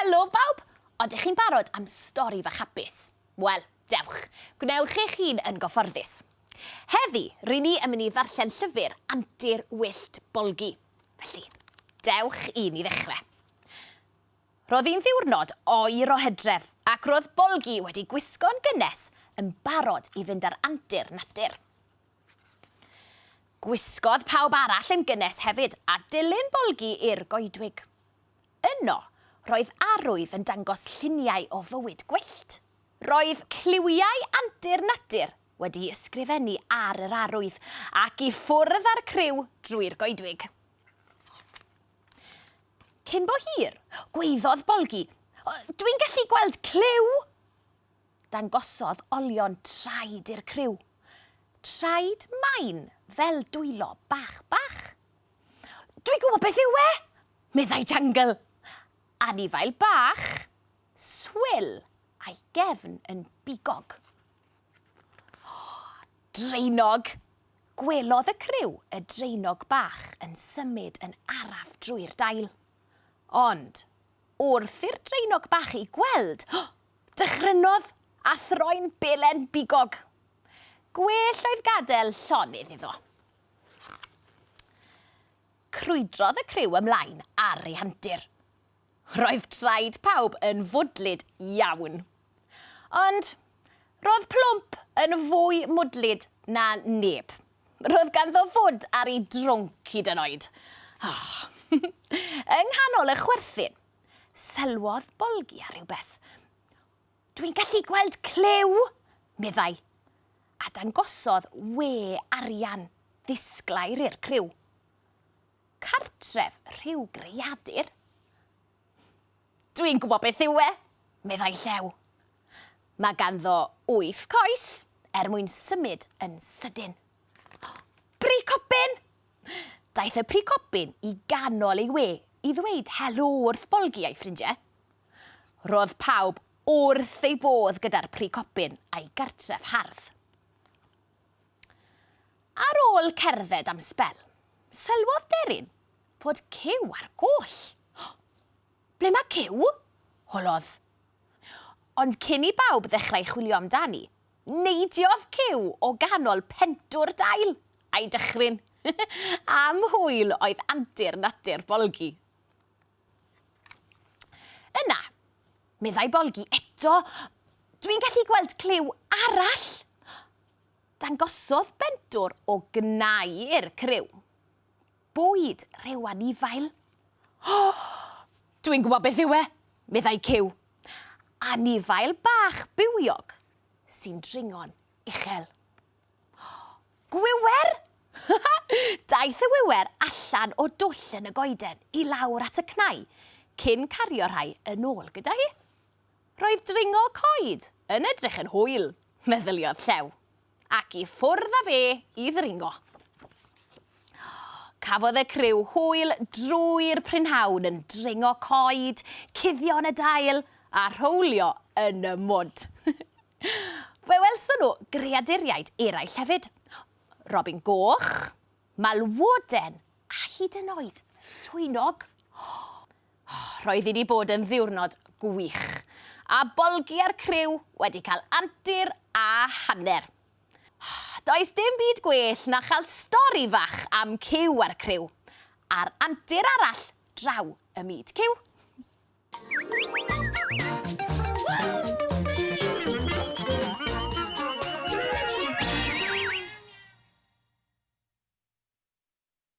Helo bawb! Odych chi'n barod am stori fach hapus? Wel, dewch, gwnewch eich hun yn gyfforddus. Heddi, rŷn ni yn mynd i ddarllen llyfr Antur Wyllt Bolgi. Felly, dewch i ni ddechrau. Roedd hi'n ddiwrnod oer o hydref ac roedd Bolgi wedi gwisgo'n gynnes yn barod i fynd ar antur natur. Gwisgodd pawb arall yn gynnes hefyd a dilyn Bolgi i'r goedwig. Yno, roedd arwydd yn dangos lluniau o fywyd gwyllt. Roedd cliwiau antur natur wedi'u ysgrifennu ar yr arwydd ac i ffwrdd â'r criw drwy'r goedwig. Cyn bo hir, gwaeddodd Bolgi, Dwi'n gallu gweld cliw! Dangosodd olion traed i'r criw. Traed main fel dwylo bach bach. Dwi gwybod beth yw e! meddai Jungle. Anifail bach, swil a'i gefn yn bigog. Draenog! Gwelodd y criw y draenog bach yn symud yn araf drwy'r dail. Ond, wrth i'r draenog bach ei gweld, dychrynodd a throi'n belen bigog. Gwell oedd gadael llonydd iddo. Crwydrodd y criw ymlaen ar ei hantur. Roedd traed pawb yn fwdlyd iawn. Ond roedd Plwmp yn fwy mwdlyd na neb. Roedd ganddo fwd ar ei drwnc hyd yn oed. Oh. Yng nghanol y chwerthin, sylwodd Bolgi ar rywbeth. Dwi'n gallu gweld clyw, meddai, a dangosodd we arian ddisglair i'r clyw. Cartref rhyw greadur? Dwi'n gwybod beth yw e, meddai Llew. Mae ganddo wyth coes er mwyn symud yn sydyn. Pricobin! Daeth y pricobin i ganol ei we i ddweud helo wrth Bolgi a'i ffrindiau. Roedd pawb wrth ei bodd gyda'r pricobin a'i gartref hardd. Ar ôl cerdded am sbel, sylwodd Deryn fod Cyw ar goll. Ble mae Cyw? holodd. Ond cyn i bawb ddechrau chwilio amdani, neidiodd Cyw o ganol pentwr dail, a'i dychryn. Am hwyl oedd antur natur Bolgi. Yna, meddai Bolgi eto, dwi'n gallu gweld Clyw arall! Dangosodd bendwr o gnau i'r criw. Bwyd rhyw anifail? O! Dwi'n gwybod beth yw e! meddai Cyw. Anifail bach bywiog sy'n dringo'n uchel. Gwiwer! Daeth y wiwer allan o dwll yn y goeden i lawr at y cnau cyn cario rhai yn ôl gyda hi. Roedd dringo coed yn edrych yn hwyl, meddyliodd Llew, ac i ffwrdd â fe i ddringo. Cafodd y criw hwyl drwy'r prynhawn yn dringo coed, cuddio yn y dail a rhowlio yn y mwd. Fe welson nhw greaduriaid eraill hefyd, robin goch, malwoden a hyd yn oed llwynog. Roedd hi 'di bod yn ddiwrnod gwych, a Bolgi a'r criw wedi cael antur a hanner. Does dim byd gwell na chael stori fach am Cyw a'r criw, ar antur arall draw ym myd Cyw.